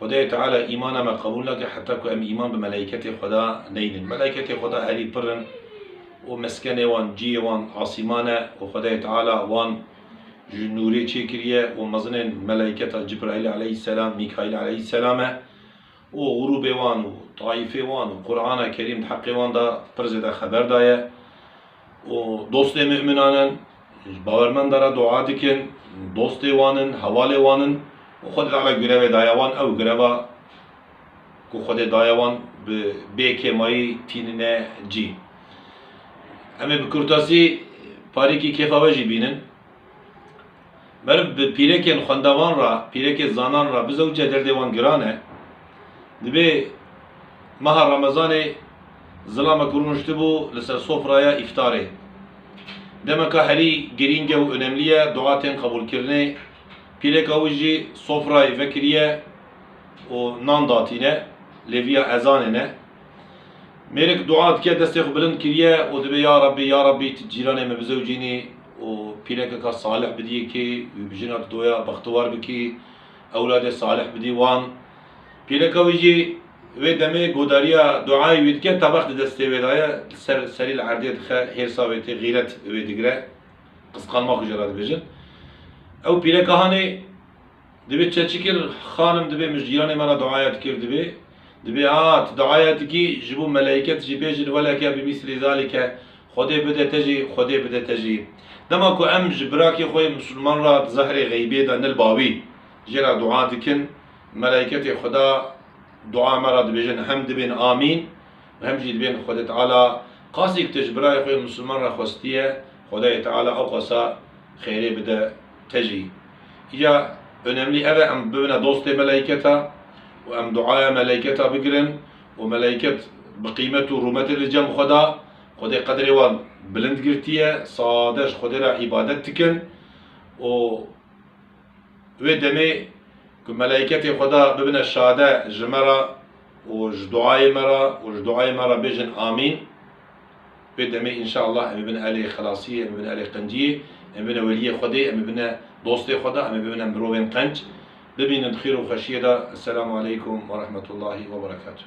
Xwedayê Teala îmana me qebûl nake heta ku em îman bi melaîketê Xweda neynin. Melaîketê Xweda herî pir in û meskenê wan, cihê wan asîman e û Xwedayê Teala wan ji nûrê çêkiriye û mezinên melaîketa Cibraîlê eleyhîsselam, Mîkaîlê eleyhîsselam e û grûbê wan û taîfê wan û Qurana Kerîm di heqê wan de pir zêde xeber daye. û dostê mu'minan in, ji bawermenda re dua dikin, dostê wan in, hevalê wan in û Xwe di Teala girevê daye wan, ew gireva ku Xwedê daye wan bi bê kêmayî tînine cî. Em ê bi kurtasî parîkî kêfa we jî bînin. Meriv bi pîrekên xwendavan re, pîrekê zanan re bizewce derdê wan giran e. Dibê meha Remezanê zilamek rûniştibû li ser sofraya îftarê. Demeka herî girîng e û onemlî ye dua tên qebûlkirinê. Pîreka wî jî sofrayê vekiriye û nan datîne, lêviya ezanê ne. Mêrik dua dike, destê xwe bilind kiriye û dibe ya Rabbî, ya Rabbî tu cîranê me bizewicînî û pîrekeka salih bidîyê kî wî bi jina didoya bextewar bikî, ewladê salih bidî wan. Pîreka wî jî wê demê godariya duayê wî dike, tebeq di destê wê de ye, li ser serî li erdê dixe, hêrsa wê tê, xîret wê digire, qisqanma xwe jê re dibêjin. Ew pîreka hanê. Dibê çeçi kir xanim dibê mij jiyanê me ra duayet kir dibê dibê a tu duayet kî ji bo meleyket jî bêjin weleke bi mîsrî zalî ke Xwedê bide te jî Xwedê bide te jî dema ku em ji birakê xwe yê misilman ra di zehrê xeybê de nil bawî jê ra dua dikin meleyketê Xweda dua me ra dibêjin hem dibên amîn û hem jî dibên Xwedê Teala qasî ku tu ji birayê xwe yê misilman re xwestiye Xwedayê Teala ew qasa xêrê bide. Te jî. Ya önemlî ev e em bibine dostê meleyketa û em duaya meleyketa bigirin û meleyket bi qîmet û rûmetê li cem xwe da. Xwedê qedrê wan bilind girtiye, sade ji Xwedê re îbadet dikin û wê demê ku meleyketê Xweda bibine şade ji me re û ji duayê me re û ji duayê me re bêjin Amîn. Vê demê înşeallah em ê bin elê xilasiyê, em ê bin elê qenciyê, em ê bine weliyê Xwedê, em ê bine dostê Xweda, em ê bibine mirovên qenc. Bimînin di xêr û xweşiyê de. Esselamu aleykum werehmetullahî weberekatuh.